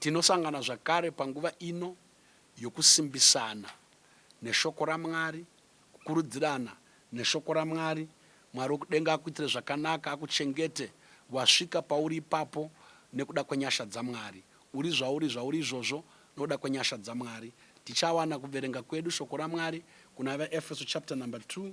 Tinosangana zvakare panguva ino yokusimbisana neShoko raMwari, kukurudzirana neShoko raMwari. Mwari wokudenga akuitire zvakanaka, akuchengete wasvika pauri ipapo nekuda kwenyasha dzaMwari. Uri zvauri zvauri izvozvo nokuda kwenyasha dzaMwari. Tichawana kuverenga kwedu Shoko raMwari kuna vaEfeso chapter number 2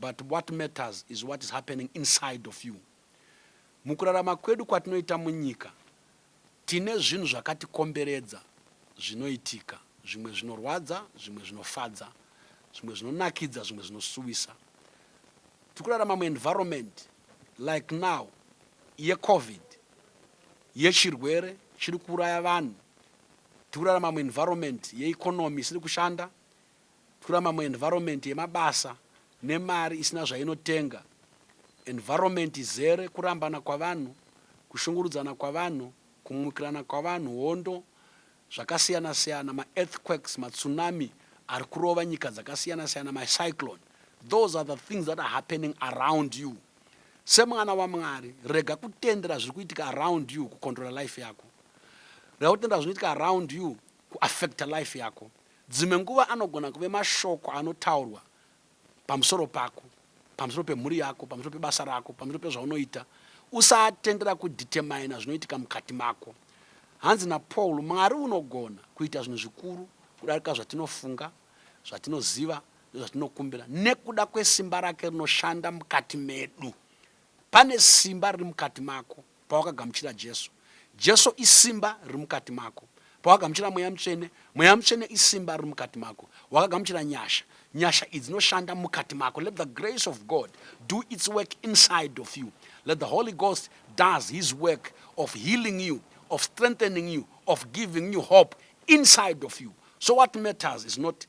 But what matters is what is happening inside of you. Mukurarama kwedu kwatinoita munyika tine zvinhu zvakatikomberedza zvinoitika, zvimwe zvinorwadza, zvimwe zvinofadza, zvimwe zvinonakidza, zvimwe zvinosuwisa. Tiri kurarama muenvironment like now yecovid yechirwere chiri kuuraya vanhu, tiri kurarama muenvironment yeeconomy isiri kushanda, Kura mamwe environment yemabasa nemari isina zvainotenga. Environment izere kurambana kwavanhu, kushungurudzana kwavanhu, kumukirana kwavanhu, hondo, zvakasiyana siyana, ma earthquakes, ma tsunami ari kurova nyika dzakasiyana siyana, ma cyclone. Those are the things that are happening around you. Semwana waMwari, rega kutendera zviri kuitika around you kucontrola life yako. Rega kutendera zvinoitika around you kuaffecta life yako. Dzimwe nguva anogona kuve mashoko anotaurwa pamusoro pako, pamusoro pemhuri yako, pamusoro pebasa rako, pamusoro pezvaunoita. Usatendera kudhitemaina zvinoitika mukati mako. Hanzi naPaul, Mwari unogona kuita zvinhu zvikuru kudarika zvatinofunga, zvatinoziva, nezvatinokumbira nekuda kwesimba rake rinoshanda mukati medu. Pane simba riri mukati mako. pawakagamuchira Jesu. Jesu isimba riri mukati mako. Pawagamuchira Mweya Mutsvene, Mweya Mutsvene isimba riri mukati mako. Wakagamuchira nyasha. Nyasha idzi dzinoshanda mukati mako. Let the grace of God do its work inside of you. Let the Holy Ghost does his work of healing you, of strengthening you, of giving you hope inside of you. So what matters is not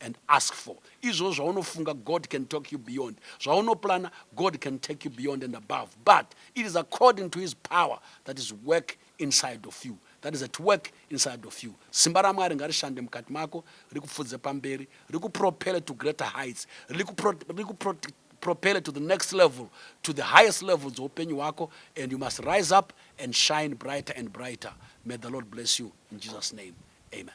and ask for izvozvo zvaunofunga god can talk you beyond zvaunoplana god can take you beyond and above but it is according to his power that is work inside of you that is at work inside of you simba ramwari ngarishande mukati mako rikupfudze pamberi rikupropele to greater heights rikupropele to the next level to the highest level dzoupenyu hwako and you must rise up and shine brighter and brighter may the lord bless you in jesus name amen